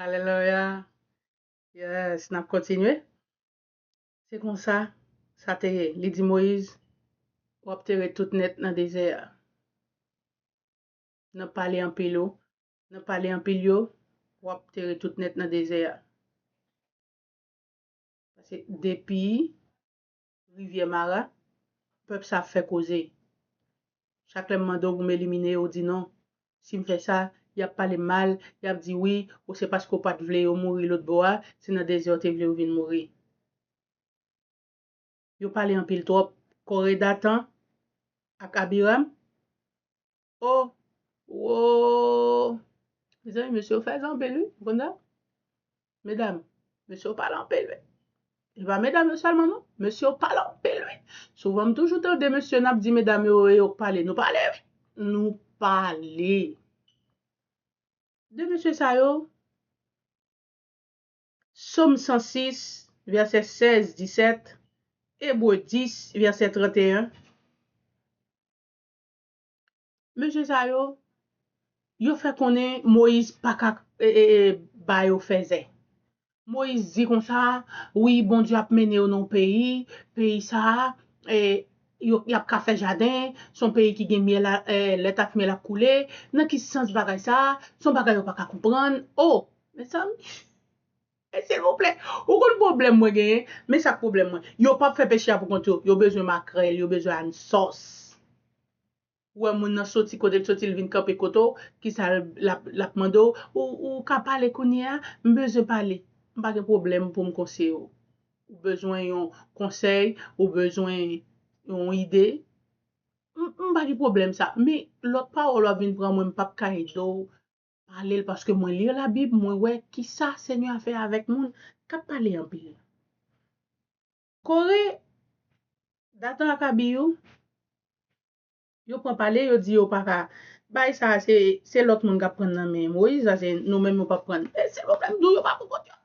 Aleloya. Yes, nap kontinye. Se konsa, sa te ye. Li di Moyiz, wap tere tout nèt nan dezè a. Nan pale anpil ou, nan pale anpil yo, wap tere tout nèt nan dezè a. Pase depi, Rivyè mara, pèp sa ap fè koze. Chak lè m mande w pou m elimine yo, ou di non. Si m fè sa, y ap pale m mal, y ap di wi, ou se paske w pa t vle yo mouri lotbò a, se nan dezè w te vle yo vin mouri. Yo pale anpil twòp. Kòredatan ak Abiram? Oh Woo Mezanmi mesye yo fèzè anpil wi ou konn sa Medam mesye yo pale anpil wi E pa medam yo sèlman non Mesye yo pale anpil wi Souvan m toujou tande mesye nap di medam yo e yo k pale Nou pale wi Nou pale De mesye sa yo Som 106 vèsè 16, 17 Ebre 10 vèsè 31 Mesye sa yo, yo fè konnen Moyiz pa ka ba yo fèzè. Moyiz di konsa, Wi, Bondye ap mennen yo nan yon peyi, peyi sa a, y ap ka fè jaden, se yon peyi ki gen lèt ak myèl ap koule. Nan ki sans bagay sa a? Se yon bagay yo pa ka konprann. O! Mezanmi! Silvouplè, ou konn pwoblèm mwen genyen, men sak pwoblèm mwen, yo pap fè pechè a pou kont yo, yo bezwen makrèl, yo bezwen ann sòs. Ou wè moun nan soti kotel soti li vin kanpe kote w, kisa lap mande w, ou ka pale kounye a, m bezwen pale. M pa gen pwoblèm pou m konseye w. Ou bezwen yon konsèy, ou bezwen yon ide, m pa gen pwoblèm sa, men lòt pawòl wap vin pran mwen m pap ka ede w. Pale l paske mwen li la bib mwen wè kisa senyè a fè avèk moun kap pale anpil la kore datan ak abi yo yo pran pale yo di yo paka bay sa se se lòt moun kap prann nan men moyiz la se nou menm yo pap prann e silvouplè m di w yo pa pou kont yo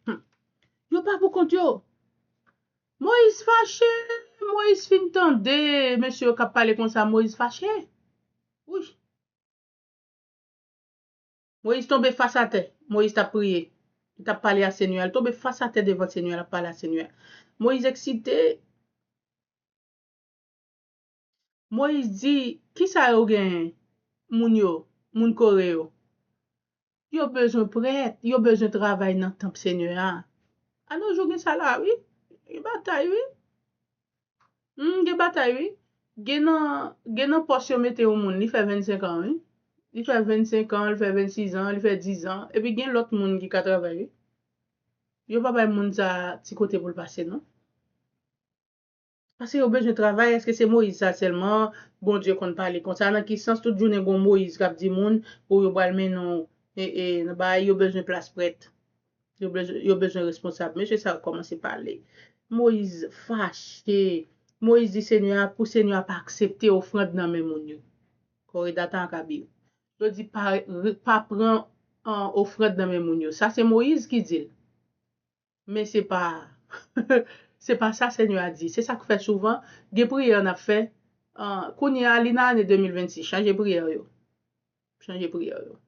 humm yo pa pou kont yo moyiz fache moyiz fin tande mesye yo kap pale konsa moyiz fache wi. Moyiz tonbe fas atè. Moyiz t ap priye. Li t ap pale a Senyè a. Li tonbe fas atè devan Senyè a, l ap pale a Senyè a. Moyiz eksite. Moyiz di, Ki sa yo genyen, moun yo, moun Kore yo? Yo bezwen prèt, yo bezwen travay nan tanp Senyè a. Anojou gen sa la a wi. Gen batay wi. Humm gen batay wi. Gen nan gen nan pòs yo mete yon moun li fè 25 ans wi. Li fè 25 ans, li fè 26 ans, li fè 10 ans epi gen lòt moun ki ka travay wi. Yo pa bay moun sa ti kote pou l pase non. Pase yo bezwen travay eske se Moïse sa sèlman Bondye konn pale konsa nan ki sans tout jounen gon Moïse k ap di moun pou yo pral mennen w nan bagay yo bezwen plas prèt Yo bezwen responsab. Mesye sa yo kòmanse pale. Moyiz fache. Moyiz di Senyè a pou Senyè a pa aksepte ofrand nan men moun yo. Kore Datan ak Abir. Yo di pa pran ofrand nan men moun yo. Sa se Moyiz ki di l. Men se pa se pa sa Senyè a di. Se sa k fè souvan gen priyè n ap fè kounye a li nan ane 2026. Chanje priyè yo. Chanje priyè yo.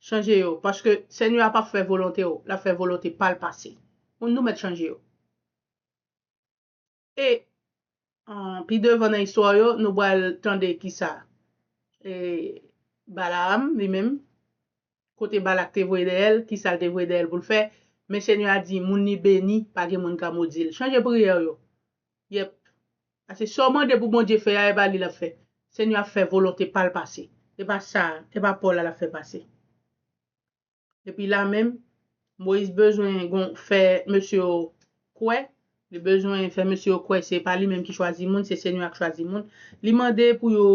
Chanje yo, paske Senyè a pap fè volonte w, lap fè volonte pa l pase. Moun nou mèt chanje yo. E pi devan nan istwa yo, nou pral tande kisa Balaam li menm, kote Balak te voye dèyè l, kisa l te voye dèyè l pou l fè, men Senyè a di moun li beni, pa gen moun ka modi l. Chanje priyè w yo. Yep. Pase sa w mande pou Bondye fè a e pa li lap fè. Senyè ap fè volonte pal pase. E pa sa, e pa paw la lap fè pase. Epi la menm, Moyiz bezwen gon fè mesye yo kwè, li bezwen fè mesye yo kwè se pa li menm ki chwazi moun, se Senyè a k chwazi moun. Li mande pou yo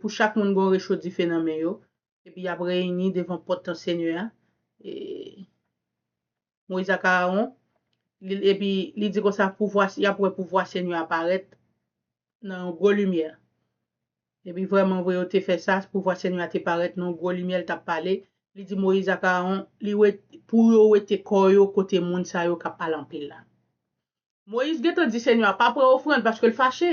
pou chak moun gon recho dife nan men yo. Epi y ap reyini devan pòt tant Senyè a, e Moyiz ak Arawon, epi li di konsa, Pouvwa, y ap wè pouvwa Senyè a parèt nan yon gwo limyè. Epi vrèmanvre, yo te fè sa, pouvwa Senyè a te parèt nan yon gwo limyè, l t ap pale, li di Moyiz ak Arawon, pou yo wete kò yo kote moun sa yo k ap pale anpil la. Moyiz gentan di Senyè a pa pran ofrand paske l fache.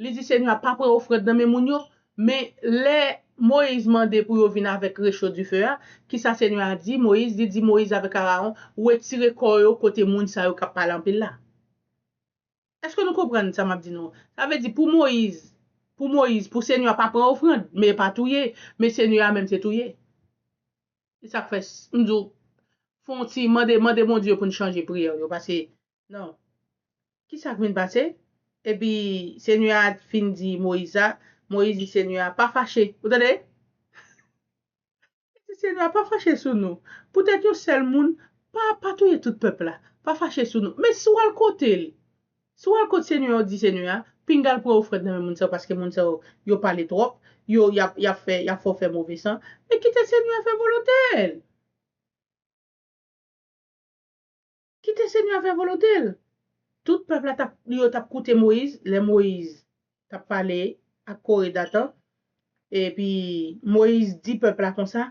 Li di Senyè a pa pran ofrand nan men moun yo. Men, lè Moyiz mande pou yo vin avèk recho dife a, kisa Senyè a di Moyiz? Li di Moyiz avèk Arawon, Wetire kò yo kote moun sa yo k ap pale anpil la. Eske nou konprann sa m ap di nou an? Sa vle di pou Moyiz, pou Moyiz, pou Senyè a pa pran ofrand, men e pa touye, men Senyè a menm se touye. Se sa k fè m di w, fè yon ti, mande, mande Bondye pou n chanje priyè w yo pase Non. Ki sa k vin pase? Epi, Senyè a fin di Moyiz sa, Moyiz di Senyè a, Pa fache. Ou tande? Li di Senyè a, Pa fache sou nou. Poutèt yon sèl moun, pa, pa touye tout pèp la. Pa fache sou nou. Men si w al kote l, si w al kot Senyè a, ou di Senyè a, Pinga l pran ofrann nan men moun sa yo, paske moun sa yo, yo pale twòp. Yo, y ap, y ap fè, y ap fè w fè move san. Men kite Senyè a fè volonte l. Kite Senyè a fè volonte l. Tout pèp la tap yo tap koute Moyiz, lè Moyiz tap pale ak Kore, Datan, epi Moyiz di pèp la konsa,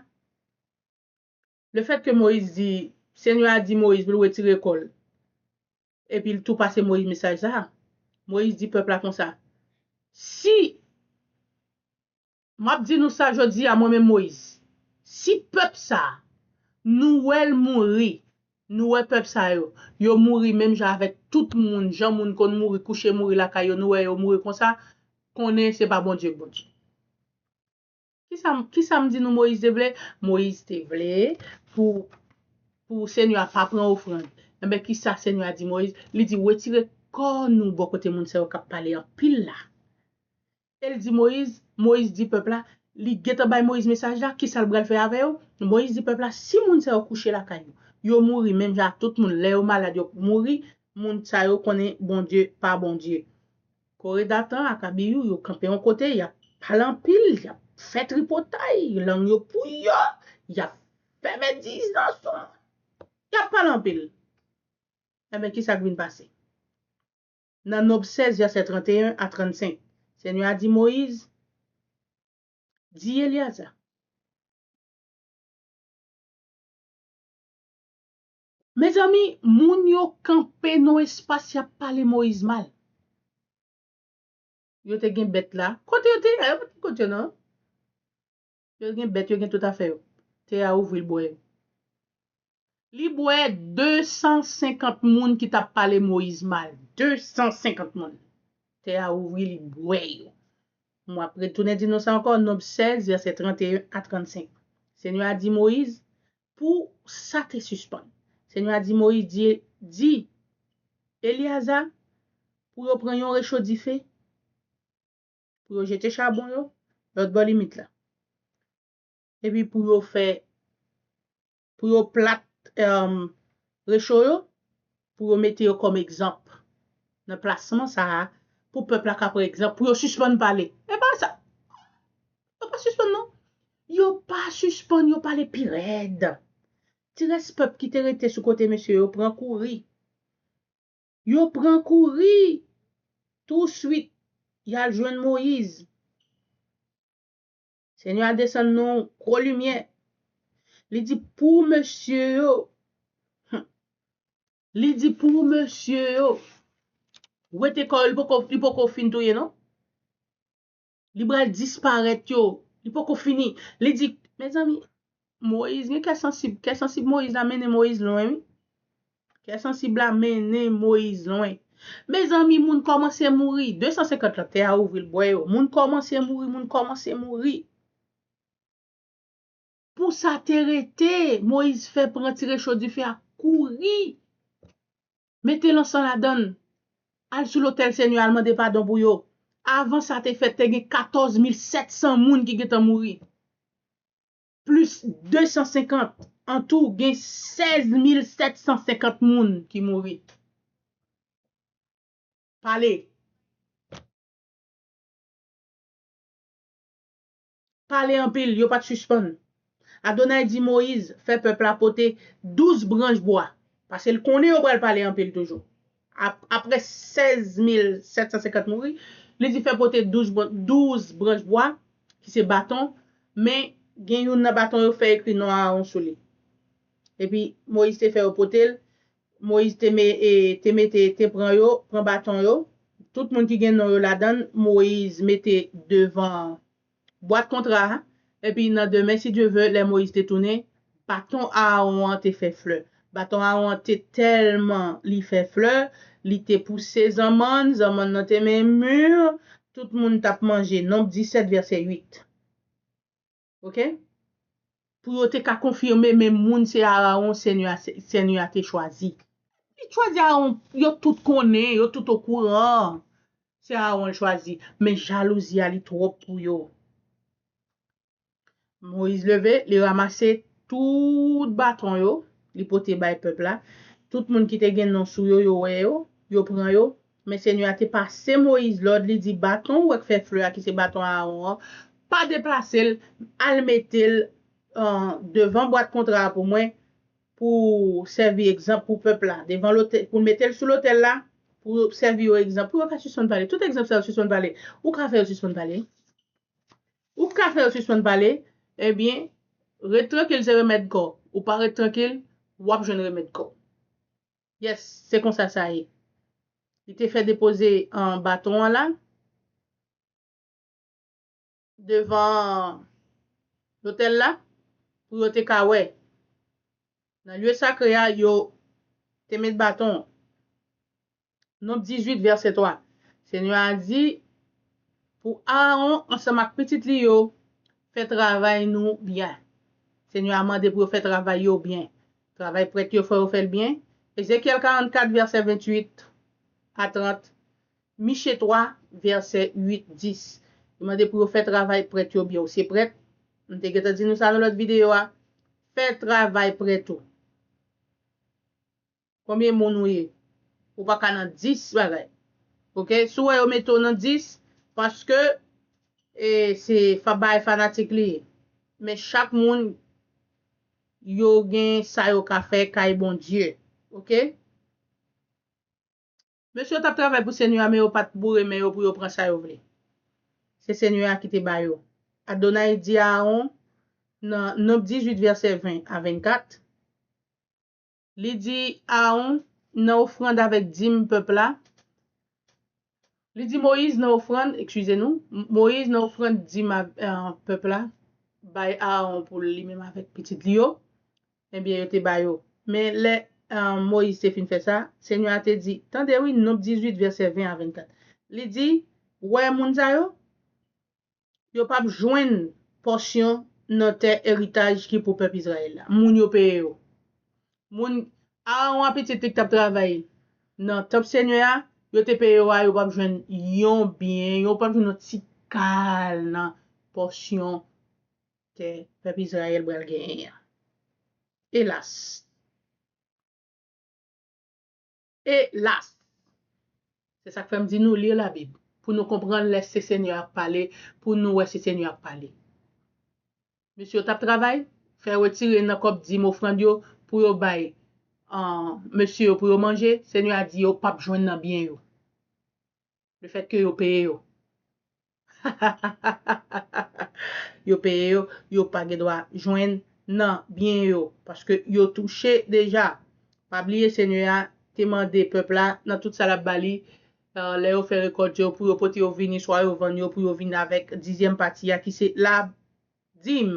lefètke Moyiz di, Senyè a di Moyiz pou l wetire kò l, epi l tou pase Moyiz mesaj sa a, Moyiz di pèp la konsa, Si. M ap di nou sa jodi a mwen menm Moyiz, si pèp sa a, nou wè l mouri, nou wè pèp sa yo, yo mouri menm jan avèk tout moun, jan moun konn mouri, kouche mouri lakay yo, nou wè yo mouri konsa, konnen se pa Bondye k Bondye. Ki sa m di nou Moyiz te vle? Moyiz te vle pou pou Senyè a pa pran ofrann. Enben, ki sa Senyè a di Moyiz? Li di, Wetire kò nou bò kote moun sa yo k ap pale anpil la. E l di Moyiz, Moyiz di pèp la, li gentan bay Moyiz mesaj la, kisa l bral fè avè yo? Moyiz di pèp la, si moun sa yo kouche lakay yo, yo mouri menm jan ak tout moun, lè yo malad yo mouri, moun sa yo konnen Bondye pa Bondye. Kore, Datan ak Abiyou yo kanpe yon kote, y ap pale anpil, y ap fè tripotay, lang yo pouyò, y ap fè medizan sou moun, y ap pale anpil. Enben, kisa k vin pase? Nan Nonb 16, vèsè 31 a 35, Senyè a di Moyiz, Di Elyaza, Mezanmi, moun yo kanpe nan yon espas y ap pale Moyiz mal. Yo te gen bèt la. Kote yo te ye a? Yo pa t gen kot yo non. Yo gen bèt, yo gen tout afè yo. Tè a ouvri l bwè yo. Li bwè 250 moun ki t ap pale Moyiz mal. 250 moun! Tè a ouvri, li bwè yo. M ap retounen di nou sa ankò, Nonb 16, vèsè 31 a 35. Senyè a di Moyiz, Pou sa te sispann. Senyè a di Moyiz, Di, di Elyaza pou yo pran yon recho dife. pou yo jete chabon yo lòt bò limit la. Epi pou yo fè, pou yo plat recho yo, pou yo mete yo kòm egzanp nan plasman sa a, pou pèp la ka pran egzanp, pou yo sispann pale. E pa sa! Yo pa sispann non! Yo pa sispann, yo pale pi rèd. Ti rès pèp ki te rete sou kote mesye yo pran kouri. Yo pran kouri! Touswit, y al jwenn Moyiz. Senyè a desann yon gwo limyè. Li di pou mesye yo, hum, li di pou mesye yo wete kò yo, li poko fin touye non. li pral disparèt yo, li poko fini, li di, mezanmi, Moyiz gen kè sansib, kè sansib Moyiz la mennen Moyiz lwen wi, kè sansib la mennen Moyiz lwen. Mezanmi moun kòmanse mouri, 250 lan, tè a ouvri l bwè yo, moun kòmanse mouri, moun kòmanse mouri. Pou sa te rete, Moyiz fè pran ti recho dife a, kouri, mete lansan ladan l, al sou lotèl Senyè a, al mande padon pou yo. Avan sa te fèt, te gen katòz mil sèt san moun ki gentan mouri, plis de san senkant. Antou, gen sèz mil sèt san senkant moun ki mouri. Pale! pale anpil, yo pa t sispann. Adonay di Moyiz fè pèp la pote douz branch bwa, paske l konnen yo pral pale anpil toujou. Apre 16750 mouri, li di fè pote douz branch bwa, ki se baton, men gen youn nan baton yo fè ekri non Aawon sou li. Epi, Moyiz te fè yo pote l, Moyiz te me e te mete te pran yo pran baton yo tout moun ki gen non yo ladann Moyiz mete devan bwat kontra a epi nan demen si Dye vè lè Moyiz te tounen baton Aawon an te fè flè baton Aawon an te tèlman li fè flè li te pouse zanmann zanmann nan te men mur tout moun t ap manje Nonb 17 vèsè 8. Ok. Pou yo te ka konfime men moun se Arawon Senyè a te chwazi. Li te chwazi Arawon, yo tout konnen, yo tout okouran. Se Arawon li chwazi. Men jalouzi a li twòp pou yo. Moyiz leve, li ramase tout baton yo, li pote bay pèp la. Tout moun ki te gen non sou yo, yo wè yo, yo pran yo, Men Senyè a te pase Moyiz lòd, li di, Baton wè k fè flè a, ki se baton Aawon an, pa deplase l, al mete l devan bwat kontra a pou mwen, pou sèvi egzanp pou pèp la, devan lotèl, pou mete l sou lotèl la, pou sèvi yo egzanp, pou yo ka sispann pale. Tout egzanp sa yo sispann pale. Ou ka fè yo sispann pale? Ou ka fè yo sispann pale? Ebyen, ret trankil se remèd kò. Ou pa ret trankil, w ap jwenn remèd kò. Yes, se konsa sa ye. Li te fè depoze baton an la devan lotèl la pou yo te ka wè. Nan lye sakre a, yo te met baton an. Nonb 18, vèsè 3 Senyè a di pou Aawon ansanm ak pitit li yo, Fè travay nou byen. Senyè a mande pou yo fè travay yo byen. Travay prèt yo fò yo fè l byen. Ezekyèl 44 vèsè 28 a 30, Miche 3 vèsè 8, 10, li mande pou yo fè travay prèt yo byen ou se prèt, m te gentan di nou sa nan lòt videyo a, fè travay prèt ou. Konbyen moun ou ye? Ou pa ka nan 10 bagay ok, si w wè yo mete w nan 10 paske e se bagay fanatik li ye men chak moun Yo gen sa yo ka fè kay Bondye ok. Mesye yo tap travay pou senyè a men yo pat boure men yo pou yo pran sa yo vle se senyè a ki te ba yo Adonai di Aaron nan Nomb 18 vèsè 20 a 24. Li di Aawon, Nan ofrand avèk dim pèp la, Li di Moyiz, Nan ofrand, ekskize nou, Moyiz, nan ofrand dim pèp la, bay Aawon pou l, li menm avèk pitit li yo. Enbyen, yo te ba yo. Men, lè Moyiz te fin fè sa, Senyè a te di, Tande wi, Nonb 18, vèsè 20 a 24. Li di, Wè moun sa yo? Yo pap jwenn pòsyon nan tè eritaj ki pou pèp Izrayèl la. Moun yo peye yo. Moun Arawon a pitit li k t ap travay nan tanp Senyè a, yo te peye yo a, yo pap jwenn yon byen, yo pap jwenn yon ti kal nan pòsyon tè pèp Izrayèl pral genyen an. Elas! Elas! Se sa k fè m di nou li Labib, pou nou konprann lè se Senyè a k pale, pou nou wè se Senyè a k pale. Mesye yo t ap travay, fè retire nan kòb dim ofrann yo pou yo bay mesye yo pou yo manje, Senyè a di yo pap jwenn nan byen yo. Le fait que yo peye yo. Yo peye yo, yo pa gen dwa jwenn nan byen yo. Paske yo touche deja. Pa bliye Senyè a te mande pèp la nan tout sa l ap ba li, lè yo fè rekòt yo, pou yo pote yo vini, swa yo vann yo, pou yo vin avèk dizyèm pati a ki se ladim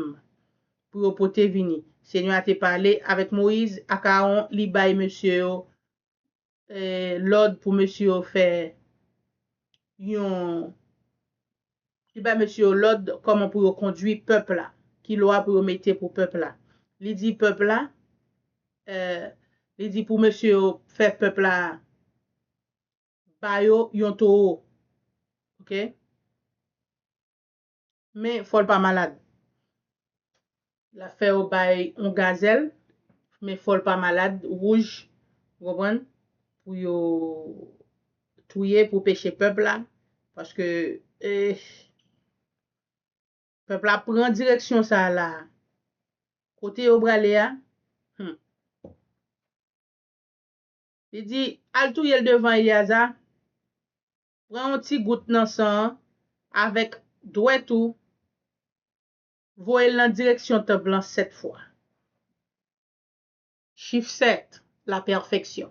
pou yo pote vini. Senyè a te pale avèk Moyiz ak Aawon, li bay mesye yo lòd pou mesye yo fè yon, li bay mesye yo lòd kòman pou yo kondui pèp la, ki lwa pou yo mete pou pèp la. Li di pèp la, li di pou mesye yo fè pèp la ba yo yon towo. Ok. Men fòl pa malad. Lap fè yo bay yon gazèl men fòl pa malad wouj ou konprann pou yo touye pou peche pèp la paske eehh pèp la pran direksyon sa la kote yo prale a humm li di al touyel devan Eliazar. Pran yon ti gout nan san an avèk dwèt ou, voye l nan direksyon tanp lan sèt fwa. Chif sèt, lapèfeksyon.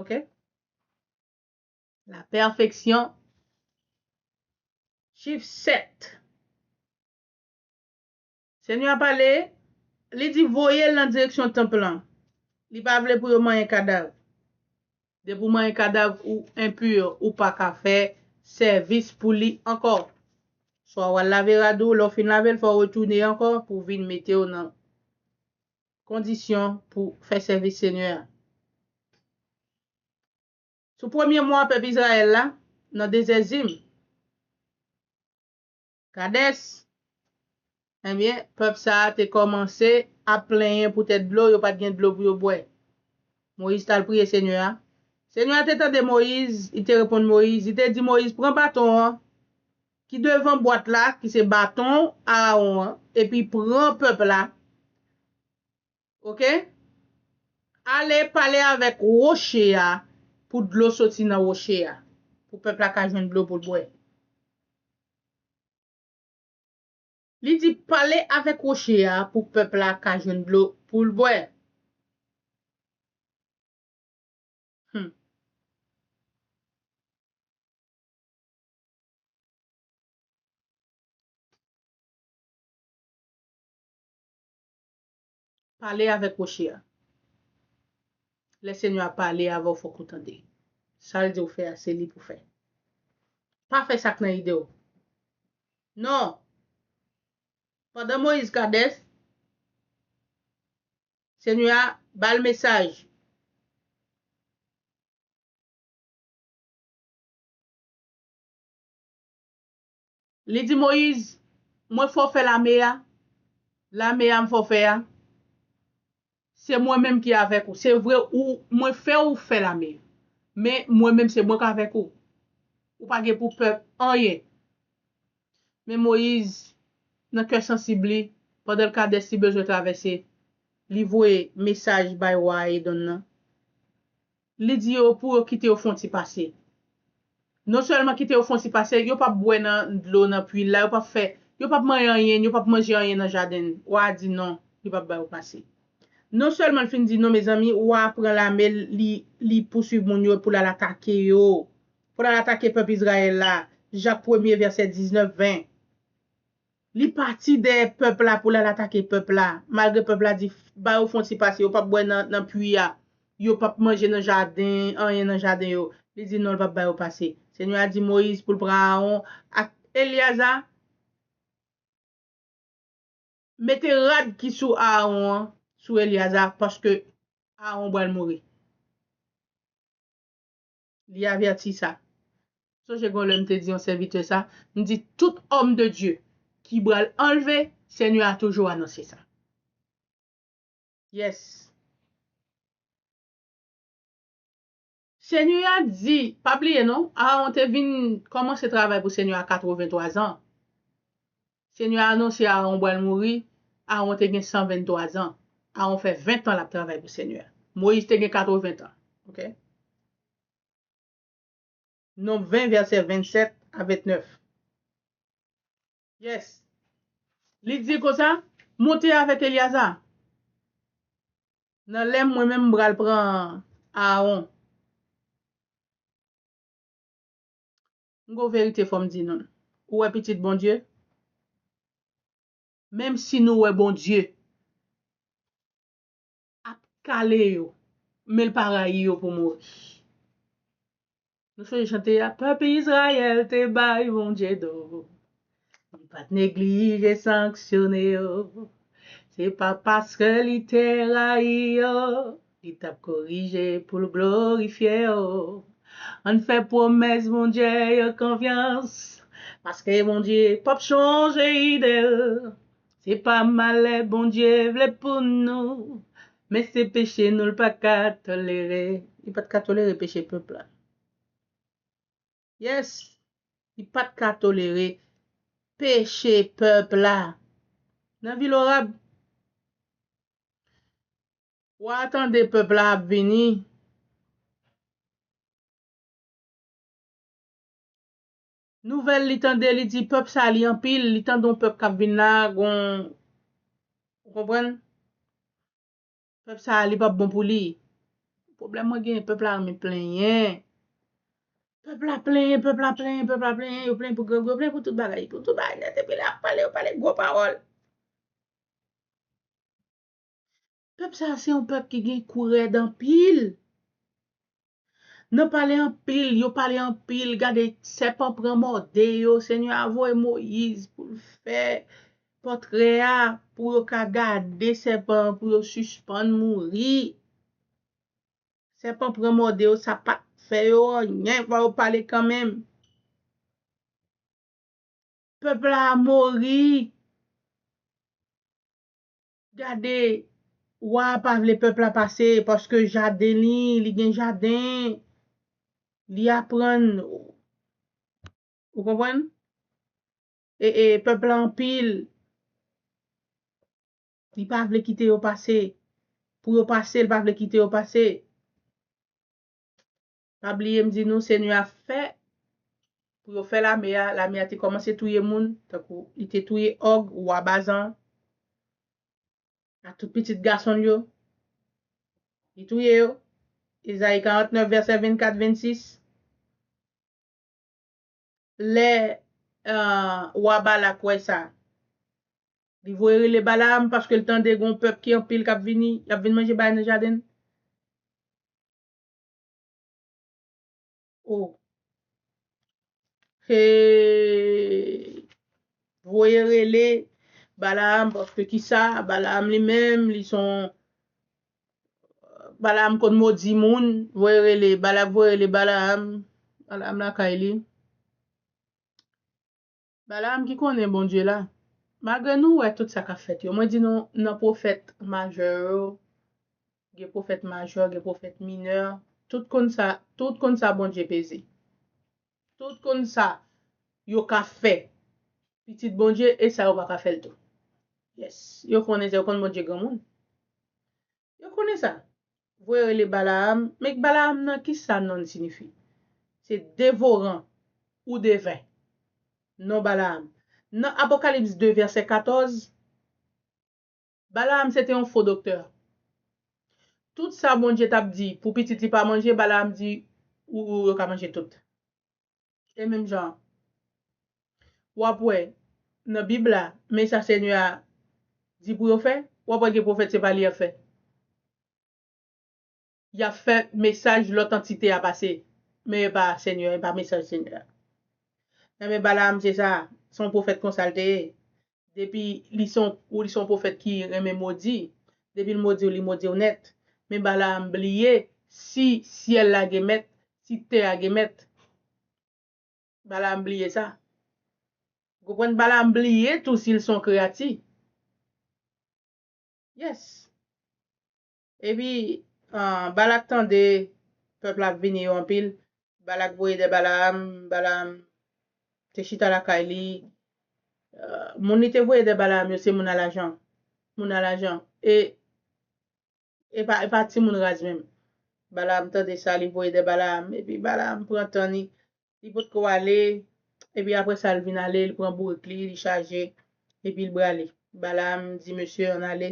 Ok? Lapèfeksyon. Chif sèt. Senyè a pale, li di, Voye l nan direksyon tanp lan. Li pa vle pou yo manyen kadav. Depi w manyen kadav, ou enpu, ou pa ka fè sèvis pou li ankò. Swa w al lave rad ou, lè w fin lave l, fò w retounen ankò pou w vin mete w nan kondisyon pou w fè sèvis Senyè a. Sou premye mwa pèp Izrayèl la, nan dezè Zin. Kades! Ebyen, pèp sa a te kòmanse ap plenyen poutèt dlo, yo pa t gen dlo pou yo bwè. Moyiz t al priye Senyè a. Senyè a te tande Moyiz, li te reponn Moyiz, li te di Moyiz, Pran baton an ki devan bwat la, ki se baton Arawon an, epi pran pèp la ok ale pale avèk roche a pou dlo soti nan roche a pou pèp la ka jwenn dlo pou l bwè li di pale avèk roche a pou pèp la ka jwenn dlo pou l bwè humm. Pale avèk woche a. Lè Senyè a pale avè w fòk ou tande. Sa l di w fè a se li pou w fè. Pa fè sa k nan ide w. Non! Pandan Moyiz Kadès, Senyè a ba l mesaj. Li di Moyiz, Mwen fòfè lame a, lame a m fòfè a, se mwen menm ki avèk ou. Se vre ou mwen fè ou fè lame, men mwen menm se mwen k avèk ou. Ou pa gen pou pè anyen. Men Moyiz, nan kè sansib li, pandan l Kadès li bezwen travèse, li voye mesaj bay wa Edon nan, Li di yo pou yo kite yo fon ti pase. Non sèlman kite yo fon ti pase, yo pap bwè nan dlo nan pwi l la, yo pap fè, yo pap manyen anyen, yo pap manje anyen nan jaden l. Wa a di non, li pap ba yo pase. Non sèlman l fin di non mezanmi, wa a pran lame l, li, li pousuiv moun yo pou l al atake yo, pou l al atake pèp Izrayèl la, Jak premye vèsè 19, 20. Li pati dèyè pèp la pou l al atake pèp la, malgre pèp la di ba yo fon ti pase, yo pap bwè nan pui a, yo pap manje nan jaden, anyen nan jaden yo. Li di non l pap ba yo pase. Senyè a di Moyiz pou l pran Aawon ak Elyaza, mete rad ki sou Aawon an sou Elyaza, paske Aawon pral mouri. Li avèti sa. M sonje gen yon lè m te di yon sèvitè sa, m di tout òm de Dye ki bral anlve, Senyè a toujou anonse sa. Yes. Senyè a di, pa bliye non, Aaron te vin kòmanse travay pou Senyè a 83 zan. Senyè a anonse Aawon bwal mouri, Aawon te gen 123 zan. Aawon fè 20 tan lap travay pou Senyè a. Moyiz te gen 80 tan. Ok. Nonb 20 vèsè 27 a 29. Yes. Li di konsa, Monte avèk Elyaza. Nan lèm mwen menm mpral pran Aawon. M gon verite fòm di nou l. Ou wè pitit Bondye? Menm si nou wè Bondye ap kale yo, men l pa rayi yo pou mouri. Nou sonje chante a, Pèp Izrayèl te bay Bondye do. Li pa t neglije sanksyone yo, se pa paske li te rayi yo, li t ap korije pou l glorifye yo. Ann fè pwomès Bondye yo konfyans, paske Bondye p ap chanje ide l. Se pa malè Bondye vle pou nou, men se peche nou l pa ka tolere. Li pa t ka tolere peche pèp la. Yes li pat ka tolere peche pèp la nan vil Orab. Wa a tande pèp la ap vini. Nouvèl li tande li di pèp sa li anpil li tande yon pèp kap vin la gon ou konprann. Pèp sa a li pap bon pou li. Pwoblèm mwen genyen pèp la renmen plenyen. Pèp la plenyen, pèp la plenyen, pèp la plenyen, yo plenyen pou grangou, yo plenyen pou tout bagay. Pou tout bagay nèt epi lè y ap pale, yo pale gwo pawòl. Pèp sa a se yon pèp ki gen kou rèd anpil. Nan pale anpil, yo pale anpil, gade sèpan pran mòde yo, Senyè a voye Moyiz pou l fè pòtrè a, pou yo ka gade sèpan an, pou yo sispann mouri. Sèpan pran mòde yo, sa pa t fè yo anyen, fò yo pale kanmenm. Pèp la a mouri. Gade Wa a pa vle pèp la pase paske jaden li, li gen jaden, li aprann Ou konprann? E e pèp la anpil Li pa vle kite yo pase Pou yo pase, li pa vle kite yo pase. Pa bliye m di nou Senyè a fè pou yo fè lame a, lame a te kòmanse touye moun, tankou li te touye Og, wa Bazan an, ak tout pitit gason l yo, li touye yo, Ezayi 49 vèsè 24, 26. Lè wa Balak wè sa, li voye rele Balaam paske l tande gen yon pèp ki anpil k ap vini, y ap vin manje bagay nan jaden l. Oh Hey Voye rele Balaam paske kisa Balaam li menm li son Balaam konn modi moun voye rele Balak voye rele Balaam Balaam lakay li Balaam ki konnen Bondye la. Malgre nou wè tout sa kap fèt yo, mwen di nou nan pwofèt majè yo, gen pwofèt majè, gen pwofèt minè, tout konn sa, tout konn sa Bondye peze. Tout konn sa yo ka fè pitit Bondye e sa yo pa ka fè l tou. Yes, yo konnen sa, yo konn Bondye granmoun. Yo konnen sa. Voye rele Balaam, men Balaam nan ki sa nonn sinifi? Se devoran ou deven. Non Balaam. Nan Apokalips 2 vèsè 14, Balaam se te yon fo doktè. Tout sa Bondye t ap di pou pitit li pa manje, Balaam di, ou yo ka manje tout. E menm jan w ap wè nan Bib la, men sa Senyè a di pou yo fè, w ap wè gen pwofèt se pa li y ap fè. Y ap fè mesaj lòt antite a pase, men e pa Senyè, e pa mesaj Senyè a. Nan men Balaam se sa, se yon pwofèt konsa l te ye. Depi li se ou li se yon pwofèt ki renmen modi, depi l modi w li modi w nèt. Men Balaam bliye si syèl la gen mèt, si tè a gen mèt. Balaam bliye sa. Ou konprann? Balaam bliye tou si l se yon kreyati. Yes. Epi, Balak tande pèp la ap vini yo anpil, Balak voye dè Balaam, Balaam te chita lakay li, moun li te voye dè Balaam yo se moun alajan, moun alajan, e e pa timoun raz menm. Balaam tande sa, li voye dè Balaam, epi Balaam pran tan li, li potko ale, epi apre sa l vin ale, li pran bourik li, li chaje, epi li brale. Balaam di mesye yo, Ann ale,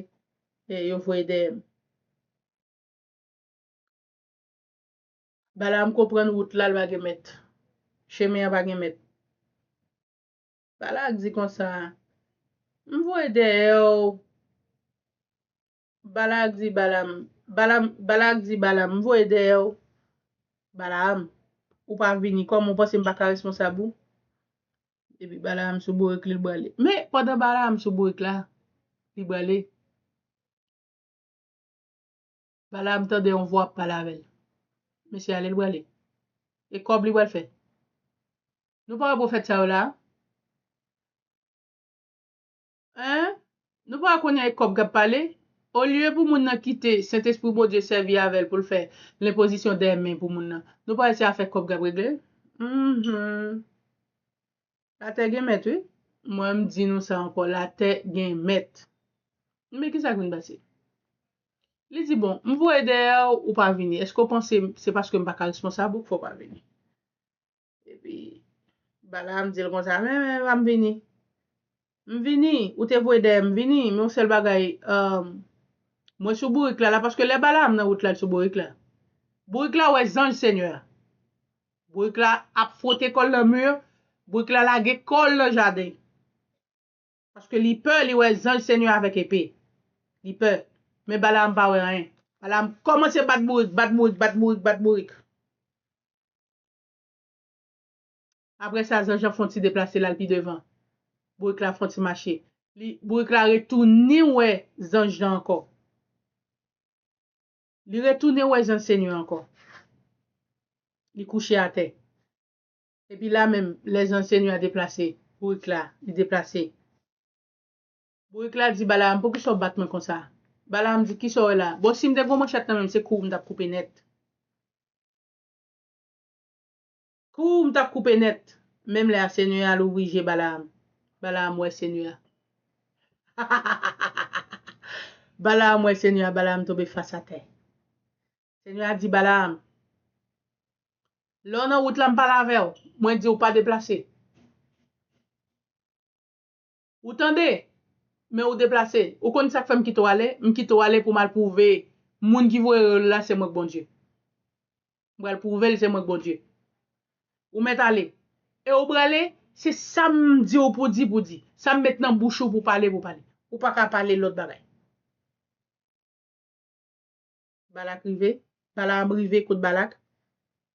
e yo voye dèyè m. Balaam konprann wout la l pa gen mèt, chemen an pa gen mèt. Balak di konsa, M voye dèyè w. Balak di Balam, Balam, Balak di Balam, m voye dèyè w, Balaam, ou pa vini, kòman ou panse m pa ka responsab ou? Epi Balaam sou bourik li, l brale. Men, pandan Balaam sou bourik la, li brale, Balaam tande yon vwa ap pale avè l. Mesye ale, l brale. E kòb li pral fè? Nou pa wè pwofèt sa yo la a? Hein? Nou pa konnen e kòb kap pale? Olye pou moun nan kite Sentespri Bondye sèvi avèl poul fè lenpozisyon dè men pou moun nan, nou pare se afè kòb kap regle? Uhmm. Latè gen mèt wi. Mwen m di nou sa ankò latè gen mèt. Enben kisak vin pase? Li di bon, m voye dèyè w ou pa vini, eske w panse se paske m paka responsab ou k fè w pa vini? Epi, Balaam di l konsa, Men, men, m ap vini. M vini. Ou te voye dèyè m, m vini. Men yon sèl bagay, mwen sou bourik la la. Paske lè Balaam nan wout la, l sou bourik la. Bourik la wè zanj Senyè a. Bourik la ap fwote kò l nan mur. Bourik la lage kò l nan jaden. Paske li pè, li wè zanj Senyè a avèk epe. Li pè. Men Balaam pa wè anyen. Balaam kòmanse bat bourik, bat bourik, bat bourik, bat bourik. Apre sa, Zanjan fè yon ti deplase l al pi devan. Bourik la fè yon ti mache. Li, Bourik la retounen wè Zanj lan ankò. Li retounen wè Zanj Senyè an ankò. Li kouche atè. Epi la menm, lè Zanj Senyè a deplase, Bourik la, li deplase. Bourik la di Balaam, poukisa w bat mwen konsa? Balaam di, kisa w wè la? Bon, si m te gen yon manchèt nan men m, se kou w m t ap koupe nèt. Ooh m tap koupe nèt. Menm lè a senyè a louvri je Balaam. Balaam wè senyè a. Hahahahahaha Balaam wè senyè a Balaam tonbe fas atè. Senyè a di Balaam, Lè w nan wout la m pale avè w, mwen di w pa deplase. Ou tande? Men ou deplase. Ou konn sa k fè m kite w ale? M kite w ale pou m al pwouve moun ki voye yo la se mwen k Bondye. M pral pwouve l se mwen k Bondye. Ou mèt ale. E ou prale, se sa m di w pou di, pou di. Sa m met nan bouch ou pou pale, pou pale. Ou pa ka pale lòt bagay. Balak rive, Balaam rive kot Balak,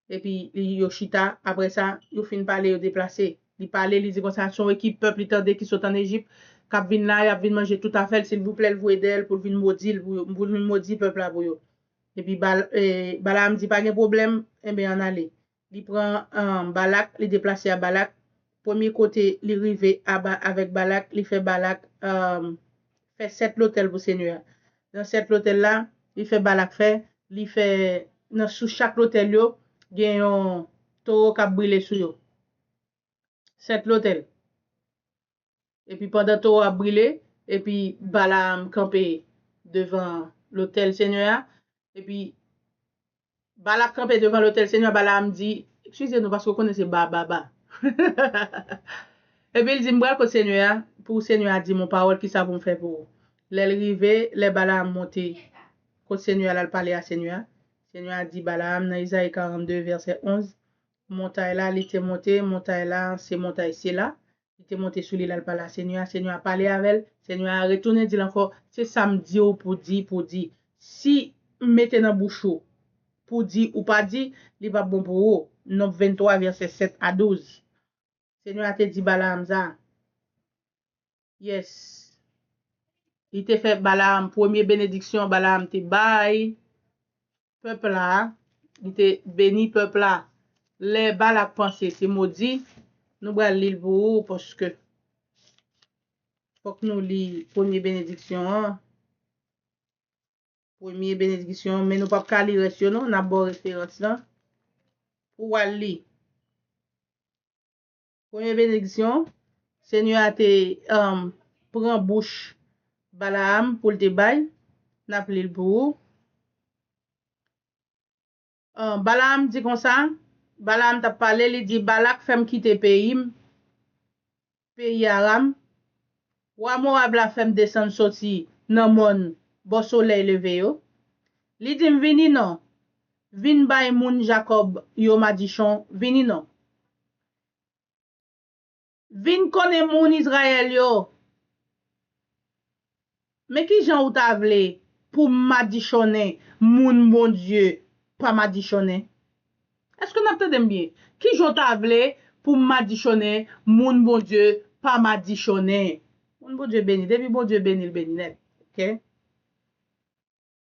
epi li yo chita, apre sa, yo fin pale, yo deplase. Li pale, li di konsa, Son ekip pèp li tande ki sot ann Ejip, k ap vin la, y ap vin manje tout afè l, silvouplè l voye dèyè l pou l vin modi l pou yo, pou l vin modi pèp la pou yo. Epi Balaam di, Pa gen pwoblèm, enben ann ale. Li pran Balak, li deplase a Balak. Premye kote li rive aba avèk Balak, li fè Balak fè sèt lotèl pou Senyè a. Nan sèt lotèl la, li fè Balak fè, li fè nan sou chak lotèl yo, gen yon towo k ap brile sou yo. Sèt lotèl. Epi pandan towo ap brile, epi Balaam kanpe devan lotèl Senyè a, epi Balak kanpe devan lotèl Senyè a, Balaam di, Ekskize nou, paske ou konnen se ba, ba, ba. Epi l di, M pral kot Senyè a, pou Senyè a di m yon pawòl, kisa pou m fè pou ou? Lè l rive, lè Balaam monte kot Senyè a l al pale a Senyè a, Senyè a di Balaam nan Ezayi 42 vèsè 11, Montay la li te monte, montay la se montay Sela, Li te monte sou li l al pale a Senyè a, Senyè a pale avè l, Senyè a retounen di l ankò, Se sa m di w pou di, pou di, Si m mete nan bouch ou, pou di, ou pa di, li p ap bon pou ou. Nonb 23, vèsè 7 a 12 Senyè a te di Balaam sa. Yes. Li te fè Balaam, premye benediksyon Balaam te bay, pèp la a, li te beni pèp la. Lè Balak panse se modi, nou pral li l pou ou paske fòk nou li premye benediksyon an, premye benediksyon an, men nou pap ka li rès yo non, n ap ba w referans lan pou w al li. Premye benediksyon, Senyè a te pran bouch Balaam pou l te bay, n ap li l pou ou. Balaam di konsa, Balaam t ap pale, li di, Balak fè m kite peyi m, peyi Aram, wa Mowab la fè m desann soti nan mòn bò solèy leve yo, li di m, Vini non, vin bay moun Jakòb yo madichon, vini non. Vin konnen moun Izrayèl yo. Men ki jan ou ta vle pou m madichonnen moun Bondye pa madichonnen? Èske n ap tande m byen? Ki jan w ta vle pou m madichonnen moun Bondye pa madichonnen? Moun Bondye beni, depi Bondye beni l beni nèt. Ok.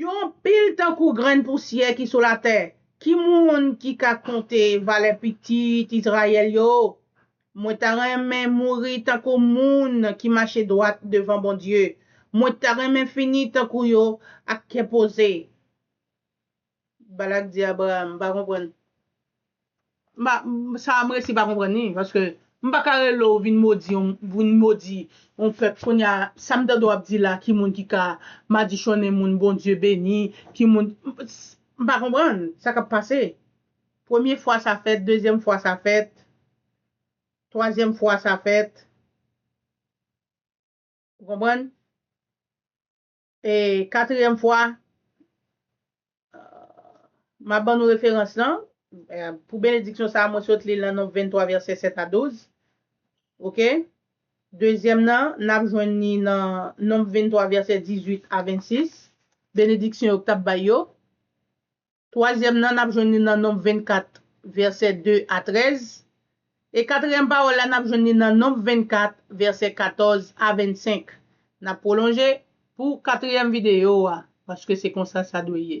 Yo anpil tankou grenn pousyè ki sou latè. Ki moun ki ka konte valè pitit Izrayèl yo? Mwen ta renmen mouri tankou moun ki mache dwat devan Bondye. Mwen ta renmen fini tankou yo ak kè poze. Balak di Abraram, M pa konprann. Sa m resi pa konprann li, paske m pa ka rele w vin modi yon vin modi yon pèp kounye a sa m tande w ap di la ki moun ki ka madichonnen moun Bondye beni ki moun m pa konprann sa k ap pase premye fwa sa fèt dezyèm fwa sa fèt twazyèm fwa sa fèt ou konprann. E katryèm fwa m ap ban nou referans lan, pou benediksyon sa a mwen sot li l nan Nonb 23 vèsè 7 a 12. Ok? Dezyèm nan, n ap jwenn ni nan Nonb 23 vèsè 18 a 26, benediksyon yo k t ap bay yo. Twazyèm nan, n ap jwenn li nan Nonb 24, vèsè 2 a 13. E katriyèm pawòl la, n ap jwenn li nan Nonb 24, vèsè 14 a 25. N ap pwolonje pou katriyèm videyo a, paske se konsa sa dwe ye.